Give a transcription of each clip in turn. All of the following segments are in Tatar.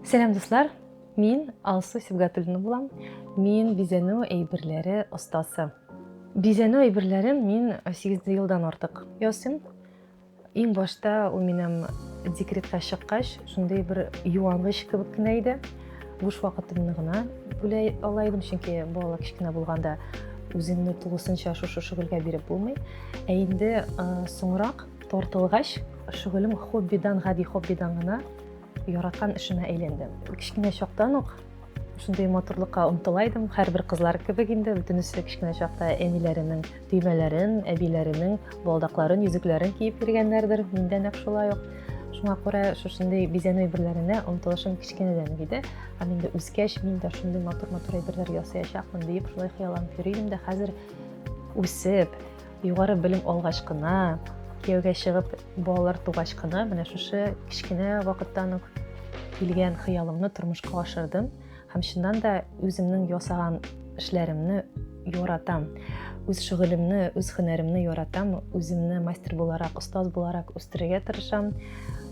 Сәлам дуслар! Мин Алсу Сибгатуллина булам. Мин бизәнү әйберләре остасы. Бизәнү әйберләрен мин 8 елдан артык ясыйм. Иң башта ул минем декретка чыккач, шундый бер юангыч кебек кенә иде. Буш вакытымны гына бүлә ала идем, чөнки балалар кечкенә булганда үзеңне тулысынча шушы шөгыльгә биреп булмый. Ә инде соңрак тартылгач, шөгылем хоббидан, гади хоббидан гына Яраткан эшемә әйләнде. Кечкенә чактан ук шундый матурлыкка омтыла идем. Һәрбер кызлар кебек инде бөтенесе кечкенә чакта әниләренең төймәләрен, әбиләренең балдакларын, йөзекләрен киеп йөргәннәрдер. Мин дә нәкъ шулай ук. Шуңа күрә шушындый бизәнү әйберләренә омтылышым кечкенәдән иде. Һәм инде үскәч мин дә шундый матур-матур әйберләр ясаячакмын диеп шулай хыялланып йөри идем дә хәзер үсеп, югары белем алгач кына, кияүгә чыгып Балалар тугач кына менә шушы кечкенә вакыттан ук килгән хыялымны тормышка ашырдым һәм чыннан да үземнең ясаган эшләремне яратам үз шөгылемне үз һөнәремне яратам үземне мастер буларак остаз буларак үстерергә тырышам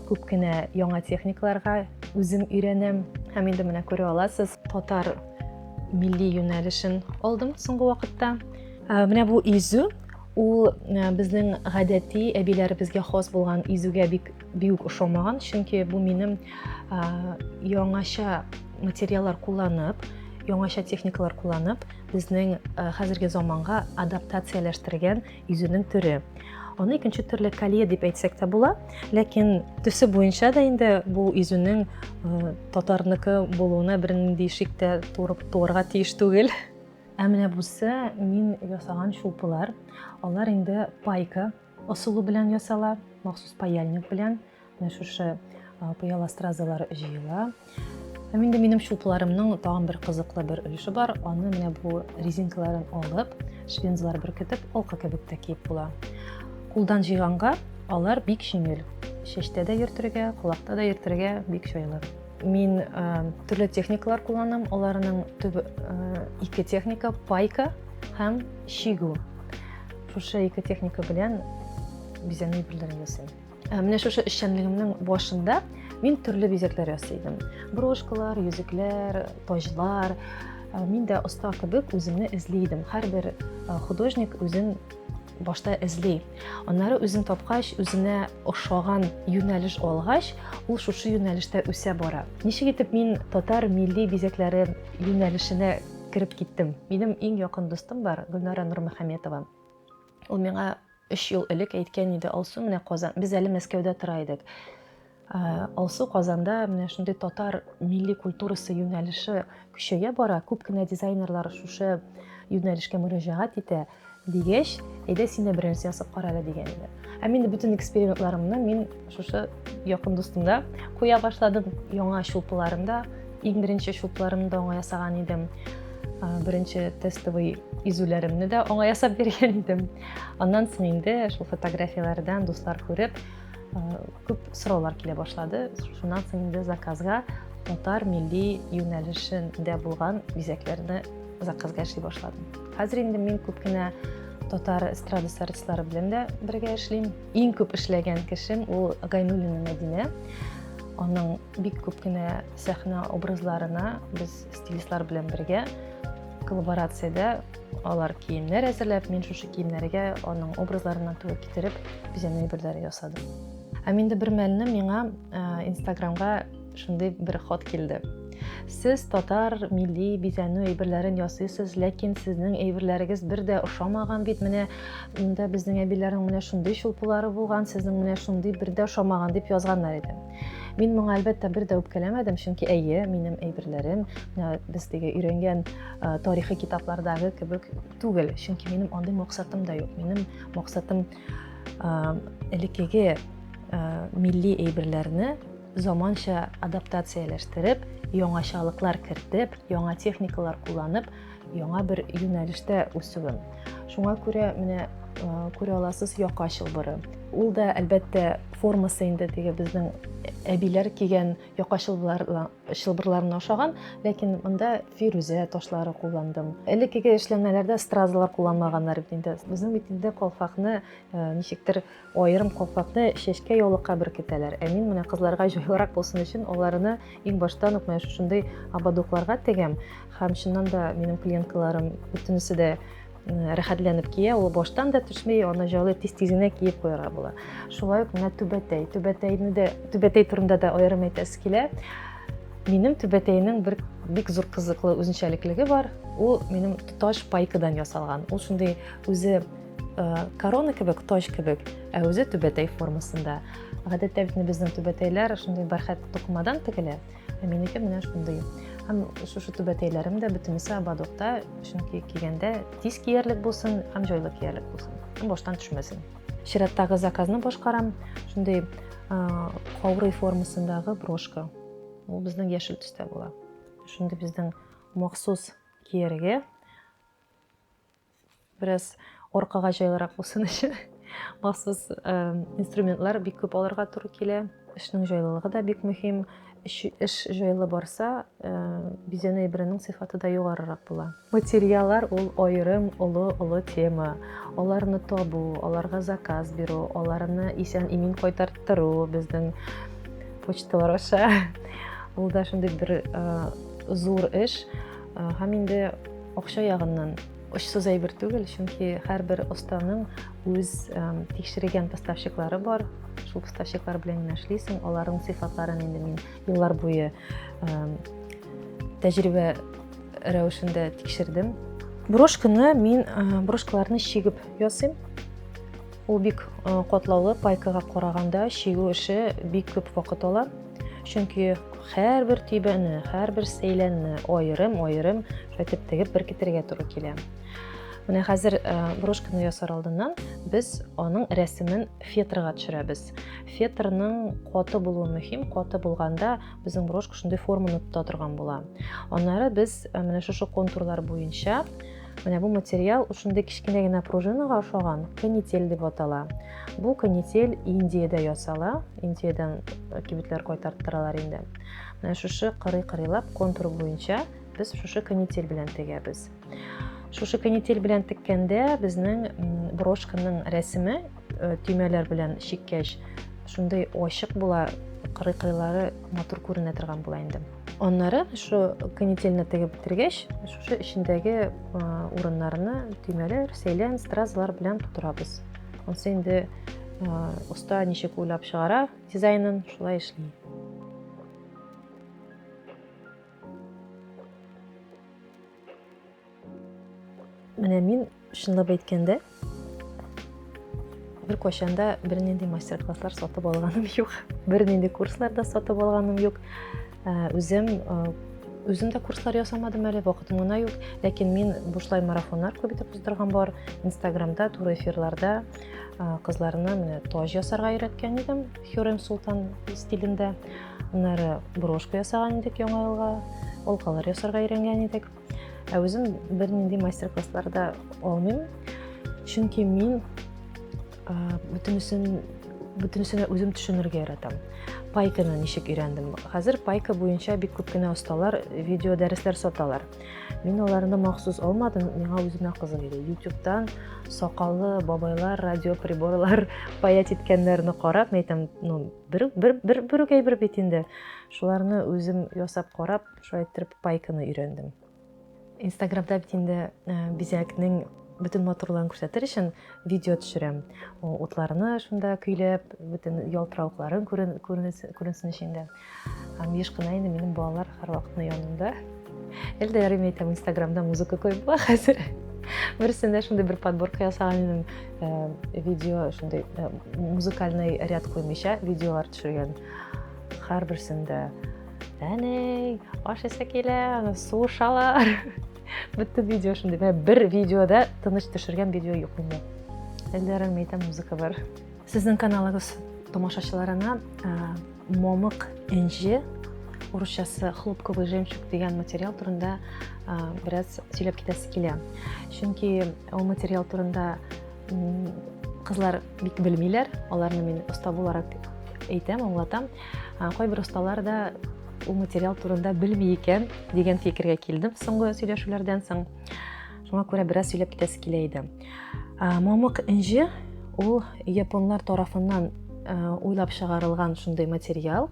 күп кенә яңа техникаларга үзем өйрәнәм һәм инде менә күрә аласыз татар милли юнәлешен алдым соңгы вакытта ә, менә бу изү Ул э, безнең гадәти әбиләребезгә хас булган изүгә бик бик ошамаган, чөнки бу минем э, яңача материаллар кулланып, яңача техникалар кулланып, безнең э, хәзерге заманга адаптацияләштергән изүнең төре. Аны икенче төрле калия дип әйтсәк тә була, ләкин төсе буенча да инде бу изүнең татарныкы булуына бернинди шик тә турып туарга тиеш түгел. Ә менә бусы мин ясаган чулпылар. Алар инде пайка ысулы белән ясала, махсус паяльник белән. Менә шушы пыяла стразалар җыела. Һәм инде минем чулпыларымның тагын бер кызыклы бер өлеше бар. Аны менә бу резинкаларын алып, швензлар беркетеп, алка кебек тә киеп була. Кулдан җыйганга алар бик җиңел. Чәчтә дә йөртергә, колакта да йөртергә бик җайлы. Мин ә, төрле техникалар кулланам, аларның төб ә, ике техника, пайка һәм чигү. Шушы ике техника белән бизәнү берләрен ясыйм. Ә, менә шушы эшчәнлегемнең башында мин төрле бизәкләр ясыйдым. Брошкалар, йөзекләр, таҗлар. Ә, мин дә оста кебек үземне эзли идем. Һәрбер художник үзен башта эзли аннары үзен тапкач үзенә ошаган юнәлеш алгач ул шушы юнәлештә үсә бара ничек итеп мин татар милли бизәкләре юнәлешенә кереп киттем минем иң якын дустым бар гөлнара нурмөхәммәтова ул миңа өч ел элек әйткән иде алсу менә казан без әле мәскәүдә тора идек Ә, Алсу Казанда менә шундый татар милли культурасы юнәлеше көчәя бара. Күп кенә дизайнерлар шушы юнәлешкә мөрәҗәгать итә дигәч, әйдә син дә берәрсе ясап кара әле дигән иде. Ә мин бөтен экспериментларымны мин шушы якын дустымда куя башладым. Яңа чулпыларында, иң беренче чулпыларымны да аңа ясаган идем. Ә, Беренче тестовый изүләремне дә аңа ясап биргән идем. Аннан соң инде шул фотографияләрдән дуслар күреп, ә, Күп сораулар килә башлады. Шуннан соң инде заказга татар милли юнәлешендә булган бизәкләрне заказга эшли башладым. Хәзер инде мин күп кенә татар эстрадасы артистлары белән дә бергә эшлим. Иң күп эшләгән кешем ул Гайнуллина Мәдинә. Аның Бик күп кенә сәхнә образларына без стилистлар белән бергә коллаборациядә алар киемнәр әзерләп, мин шушы киемнәргә аның образларына туры китереп, бизәнү әйберләре ясадым. Һәм инде бер мәлне миңа э, Инстаграмга шундый бер хат килде. Сез татар милли бизәнү әйберләрен ясыйсыз, ләкин сезнең әйберләрегез бер дә ошамаган бит. Менә монда безнең әбиләрнең менә шундый чулпылары булган, сезнең менә шундый бер дә ошамаган дип язганнар иде. Мин моңа әлбәттә бер дә үпкәләмәдем, чөнки әйе, минем әйберләрем без теге өйрәнгән тарихи китаплардагы кебек түгел, чөнки минем андый максатым да юк. Минем максатым элеккеге милли әйберләрне заманча адаптацияләштереп, яңачалыклар кертеп, яңа техникалар кулланып, яңа бер юнәлештә үсүен. Шуңа күрә менә күрә аласыз яка чылбыры. Ул да әлбәттә формасы инде теге безнең әбиләр кигән яка чылбырларына ошаган, ләкин монда фирүзә ташлары кулландым. Элеккеге эшләнмәләрдә стразалар кулланмаганнар бит инде. Безнең бит инде калфакны ничектер Аерым калфакны чәчкә яулыкка беркетәләр, ә мин менә кызларга җайлырак булсын өчен аларны иң баштан ук менә шушындый ободокларга тегәм. Һәм чыннан да минем клиенткаларым бөтенесе дә рәхәтләнеп кия, ул баштан да төшми, аны җайлы тиз-тиз генә киеп куярга була. Шулай ук менә түбәтәй. Түбәтәйне дә, түбәтәй турында да аерым әйтәсе килә. Минем түбәтәйнең бер бик зур кызыклы үзенчәлеклеге бар. Ул минем тоташ пайкадан ясалган. Ул шундый үзе Э, корона кебек точ кебек ә үзе түбәтәй формасында гадәттә бит безнең түбәтәйләр шундый бәрхәт тукымадан тегелә ә минеке менә шундый һәм шушы түбәтәйләрем дә бөтенесе ободокта чөнки кигәндә тиз киярлек булсын һәм җайлы киярлек булсын һәм баштан төшмәсен чираттагы заказны башкарам шундый каурый формасындагы брошка ул безнең яшел төстә була шундый безнең махсус кияргә Бераз аркага җайлырак булсын өчен махсус инструментлар бик күп алырга туры килә. Эшнең җайлылыгы да бик мөһим. Эш җайлы барса, бизәнү әйберенең сыйфаты да югарырак була. Материаллар ул аерым олы-олы тема. Аларны табу, аларга заказ бирү, аларны исән-имин кайтарттыру безнең почталар аша. Ул да шундый бер зур эш. Һәм инде Акча ягыннан очсыз әйбер түгел, чөнки һәрбер останың үз тикшерегән поставщиклары бар. Шул поставщиклар белән генә эшлисең, аларның сыйфатларын инде мин еллар буе тәҗрибә рәвешендә тикшердем. Брошканы мин брошкаларны чигеп ясыйм. Ул бик катлаулы, пайкага караганда чигү эше бик күп вакыт ала. Чөнки һәрбер төйбәне, һәрбер сәйләнне аерым-аерым шайтып тегеп беркетергә туры килә. Менә хәзер брошканы ясар алдыннан без аның рәсемен фетрга төшерәбез. Фетрның каты булуы мөһим, каты булганда безнең брошка шундый форманы тота торган була. Аннары без менә шушы контурлар буенча Менә бу материал шундый кечкенә генә пружинага ошаган канитель дип атала. Бу канитель Индиядә ясала. Индиядән э, кибетләр кайтарттыралар инде. Менә шушы кырый-кырыйлап контур буенча без шушы канитель белән тегәбез. Шушы канитель белән теккәндә безнең брошканың рәсеме э, төймәләр белән чиккәч шундый ачык була, кырый-кырыйлары матур күренә торган була инде. Аннары шу канителне тегеп бетергәч, шушы эчендәге урыннарны төймәләр, сәйлән, стразлар белән тутырабыз. Ансы инде оста ничек уйлап чыгара дизайнын, шулай эшли. Менә мин чынлап әйткәндә бер кочанда бернинди мастер-класслар сатып алганым юк. Бернинди курслар да сатып алганым юк. Э, үзем э, үзем дә курслар ясамадым әле, вакытым гына юк. Ләкин мин бушлай марафоннар күп итеп уздырган бар. Инстаграмда, туры эфирларда э, кызларны менә тож ясарга өйрәткән идем, Хюрем Султан стилендә. Аннары брошка ясаган идек яңа елга, олкалар ясарга өйрәнгән идек. Ә үзем бернинди мастер-классларда алмыйм, чөнки мин бөтенесен бөтенесенә үзем төшенергә яратам. Пайканы ничек өйрәндем? Хәзер пайка буенча бик күп кенә осталар видео дәресләр саталар. Мин аларны махсус алмадым, миңа үземә кызык иде. Ютубтан сакаллы бабайлар, радиоприборлар паять иткәннәрне карап, мәйтәм, ну, бер бер бер бер бит инде. Шуларны үзем ясап карап, Шулай иттереп пайканы өйрәндем. Инстаграмда бит инде э, бизәкнең бөтен матурлыгын күрсәтер өчен видео төшерәм. Утларны шунда көйләп, бөтен ялтыравыкларын күренсен өчен дә. Һәм еш кына инде минем балалар һәрвакытны янымда. Әлдә ярыйм әйтәм, Инстаграмда музыка коеп була хәзер. Берсендә шундый бер подборка ясаган идем. Э, видео шундый э, музыкальный ряд куймыйча видеолар төшергән. Һәрберсендә әней аш эсе килә аны су шалар бөтен видео шундый менә бер видеода тыныч төшергән видео юк инде әллә рәмәйтә музыка бар сезнең каналыгыз тамашачыларына ә, момык энҗе урысчасы хлопковый жемчуг дигән материал турында ә, бераз сөйләп китәсе килә чөнки ул материал турында кызлар бик белмиләр аларны мин оста буларак әйтәм аңлатам Кайбер осталар да ул материал турында белми икән дигән фикергә килдем соңгы сөйләшүләрдән соң. Шуңа күрә бераз сөйләп китәсе килә иде. Мамык инҗе ул японлар тарафыннан уйлап чыгарылган шундый материал.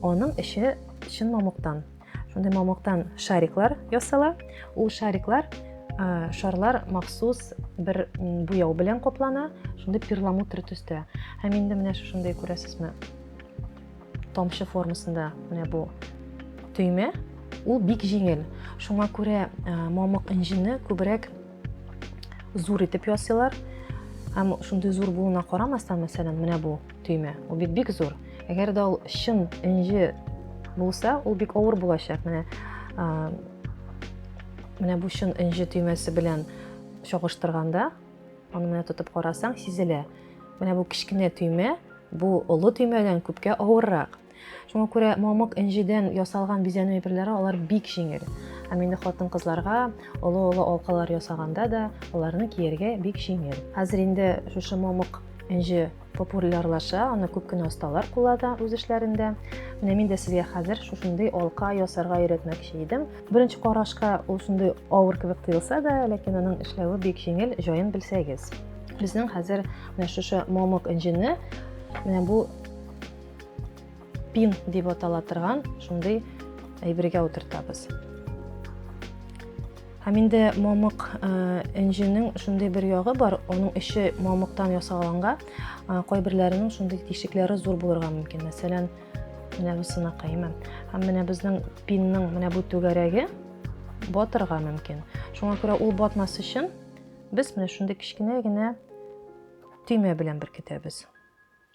Аның эче чын мамыктан Шундый мамыктан шариклар ясала. Ул шариклар Э, шарлар махсус бер буяу белән каплана шундый перламутр төстә һәм инде менә шушындай күрәсезме тамчы формасында менә бу төймә ул бик җиңел шуңа күрә э, мамык инжины күбрәк зур итеп ясыйлар һәм шундый зур булуына карамастан мәсәлән менә бу төймә ул бит бик зур әгәр дә ул чын энҗе булса ул бик авыр булачак менә менә бу чын энҗе төймәсе белән чагыштырганда аны менә тотып карасаң сизелә менә бу кечкенә төймә бу олы төймәдән күпкә авыррак Шуңа күрә мамык энҗедән ясалган бизәнү әйберләре алар бик җиңел. Һәм инде хатын-кызларга олы-олы алкалар ясаганда да аларны кияргә бик җиңел. Хәзер инде шушы мамык энҗе популярлаша, аны күп кенә осталар куллана үз эшләрендә. Менә мин дә сезгә хәзер шушындый алка ясарга өйрәтмәкче идем. Беренче карашка ул шундый авыр кебек тоелса да, ләкин аның эшләве бик җиңел, җаен белсәгез. Безнең хәзер менә шушы мамык энҗене менә бу пин дип атала торган шундый әйбергә утыртабыз һәм инде мамык энҗенең шундый бер ягы бар аның эче мамыктан ясалганга кайберләренең шундый тишекләре зур булырга мөмкин мәсәлән менә бусынакай имән һәм менә безнең пинның менә бу түгәрәге батырга мөмкин шуңа күрә ул батмас өчен без менә шундый кечкенә генә төймә белән беркетәбез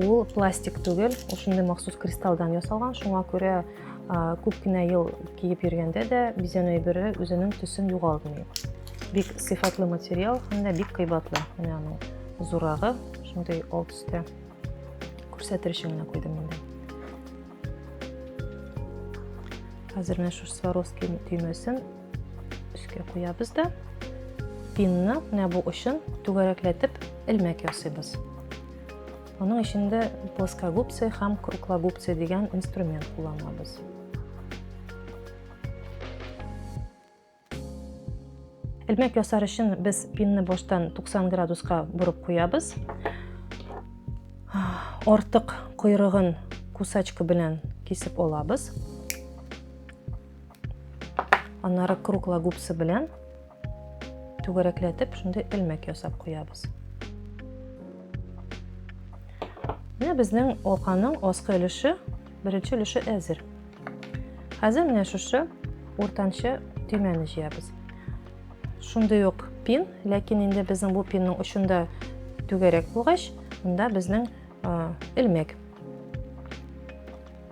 Ул пластик түгел, ул шундый махсус кристалдан ясалган, шуңа күрә күп кенә ел киеп йөргәндә дә бизәнү әйбере үзенең төсен югалтмый. Бик сыйфатлы материал һәм дә бик кыйбатлы. Менә аның зурагы шундый ал төстә. Күрсәтер өчен генә куйдым инде. Хәзер менә шушы Сваровский төймәсен өскә куябыз да пинны менә бу очын түгәрәкләтеп элмәк ясыйбыз аның эчендә плоскогубцы һәм круглогубцы дигән инструмент кулланабыз Элмәк ясар өчен без пинны баштан 90 градуска борып куябыз. Артык койрыгын кусачка белән кисеп алабыз. Аннары кругла губсы белән түгәрәкләтеп шундый элмәк ясап куябыз. Менә безнең алканың аскы өлеше, беренче өлеше әзер. Хәзер менә шушы уртанчы төймәне җыябыз. Шундый ук пин, ләкин инде безнең бу пинның очында түгәрәк булгач, монда безнең элмәк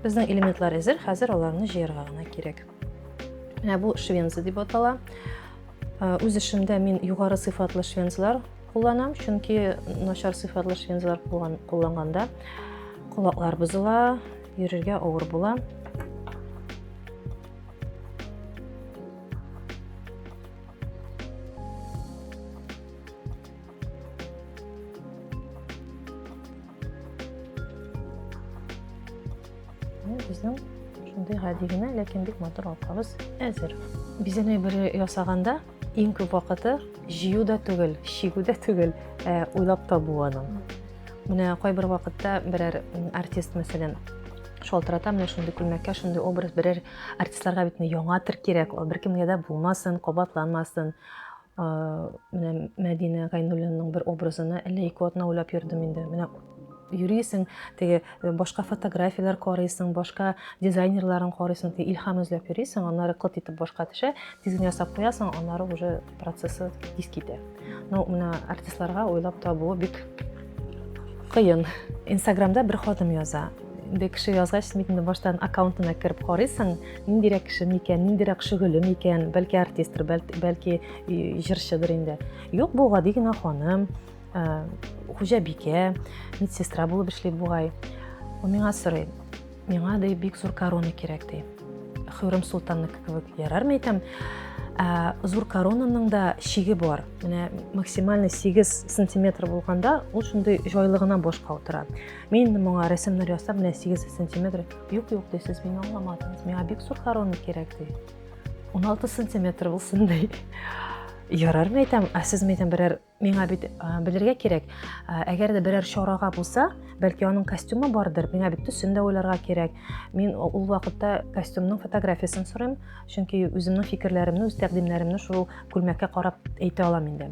Безнең элементлар әзер, хәзер аларны җыярга гына кирәк. Менә бу швенза дип атала. Э, үз эшемдә мин югары сыйфатлы швензлар кулланам, чөнки начар сыйфатлы швензлар кулланганда колаклар бозыла, йөрергә авыр була. Безнең шундый гади генә, ләкин бик матур алкабыз әзер. Бизәнәй бөрі ясаганда иң күп вакыты җыю да түгел, чигү дә түгел, ә уйлап табу аның. Менә кайбер вакытта берәр артист, мәсәлән, шалтырата менә шундый күлмәккә шундый образ берәр артистларга бит яңа тер кирәк ул беркемгә дә булмасын кабатланмасын менә Мәдинә Гайнуллинның бер образына әллә ике атна уйлап йөрдем инде. Менә йөрисең, теге э, башка фотографияләр карыйсың, башка дизайнерларын карыйсың, теге илһам эзләп йөрисең, аннары кылт итеп башка төшә, тиз генә ясап куясың, аннары уже процессы тиз китә. Ну, менә артистларга уйлап табуы бик кыен. Инстаграмда бер хатын яза. Бер кеше язгач, син инде баштан аккаунтына кереп карыйсың, Ниндирәк кеше микән, ниндирәк шөгыле микән, бәлки артистр, бәлки җырчыдыр инде. Юк, бу гади генә ханым, хуҗабикә, медсестра булып эшли бугай. Ул миңа сорый, миңа ди бик зур корона кирәк ди. Хөрем Султанныкы кебек ярармы икән? Ә, зур коронаның да шиге бар. Менә максимальный 8 сантиметр булганда, ул шундый җайлы гына башка утыра. Мин инде моңа рәсемнәр ясап, менә 8 сантиметр Юк, юк, ди, сез мине аңламадыңыз. Миңа бик зур корона кирәк, ди. 16 сантиметр булсын, ди. Ярар, мен әйтәм, ә сез мен әйтәм, берәр миңа бит белергә кирәк. Әгәр дә берәр чарага булса, бәлки аның костюмы бардыр. Миңа бит төсен дә уйларга кирәк. Мин ул вакытта костюмның фотографиясен сорыйм, чөнки үземнең фикерләремне, үз тәкъдимнәремне шул күлмәккә карап әйтә алам инде.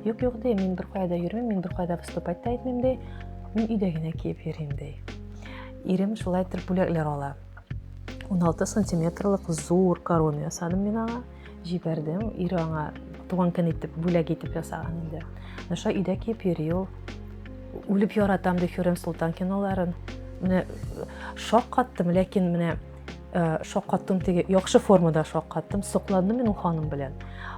Юк, юк ди, мин беркая да йөрмим, мин беркая да выступать та итмим ди. Мин өйдә генә киеп йөрим ди. Ирем шулай итеп бүләкләр ала. 16 сантиметрлык зур корона ясадым мин аңа. Җибәрдем. Ире аңа туган көн итеп бүләк итеп ясаган инде. Наша өйдә киеп йөри ул. Үлеп яратам ди Хюрем Султан киноларын. Менә шаккаттым, ләкин менә Э, шаккаттым теге яхшы формада шаккаттым сокландым мин ул ханым белән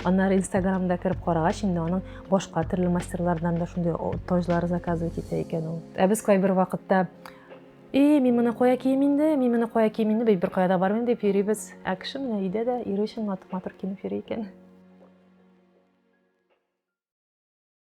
аннары инстаграмда кереп карагач инде аның башка төрле мастерлардан да шундый таҗлар заказывать итә икән ул ә без кайбер вакытта и мин моны кая кием инде мин моны кая кием инде бер кая да бармыйм дип йөрибез ә кеше менә өйдә дә ире өчен матур матур киенеп йөри икән